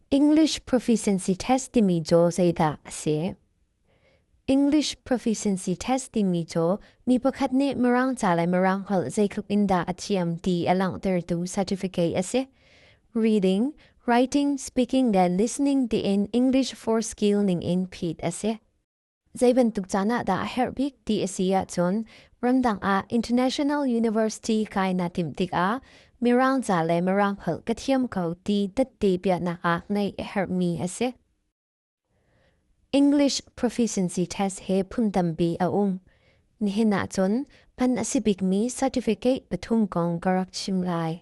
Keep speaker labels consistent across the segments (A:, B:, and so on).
A: English proficiency test timi cu zeidah a si? English proficiency test timi cu mi pakhat nih mirang ca le mirang holh zeitluk in dah a thiam ti a langhtertu certificate a si. Reading, writing, speaking le listening tiin English for skill ning in phit a si. Zei bantuk caan ah dah a herh bik ti a si ahcun ramdang ah International University kai na timh tikah Mirang ca le Mirang holh ka thiam ko ti datte piahnak ah neih a herhmi a si. English proficiency test he phun tampi a um. Nihin ahcun pan a si bikmi certificate pathum kong ka rak chim lai.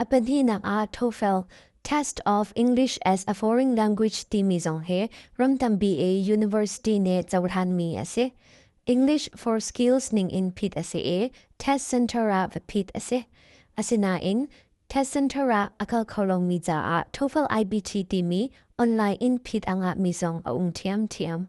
A: A pahnihnak ah TOEFL, Test of English as a Foreign Language timi zong hi ramtampi i university nih cohlanmi a si. English for Skills ning in phit a si i test center ah va phit a si. Asinain, test center ah a kal kho lomi caah TOEFL IBT timi online in phit angah mi zong a um ṭhiamṭhiam.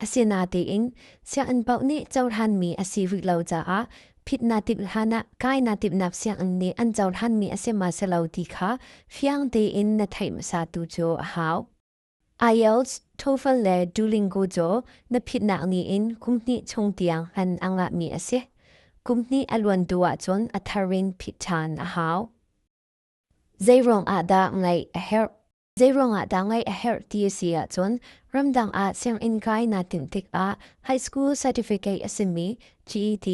A: Asinatein sianginn paoh nih cohlanmi a si rih lo caah phitnatip hlanah kainatipnak sianginn nih an cohlanmi a si ma si lo ti kha fiang tein na theih hmasa tu cu a hau. IELTS TOEFL le Duolingo cu na phitnak ni in kum hnih chung tiang an angla mi a si. Kum hnih a luan tu ah cun a thar in phit ṭhan a hau. Zeiruang ah dah ngeih a herh? Zeiruangah dah ngaih a herh ti a si ahcun ramdang ah sianginn kai naa tinh tikah high school certificate a simi GET,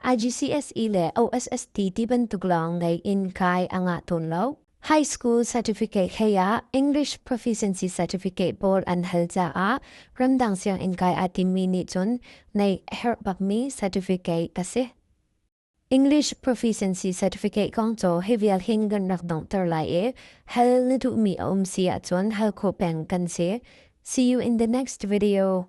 A: IGCSE le OSST ti bantuk lawng ngei in kai a ngah tawn lo. High school certificate he ah English proficiency certificate board an hal caah ramdang sianginn kai aa timmi nih cun neih a herh bakmi certificate ka si. English Proficiency Certificate kong co hi vial hin kan rak dong ter lai e hal na tu mi a um si ah cun hal ko peng kan si see you in the next video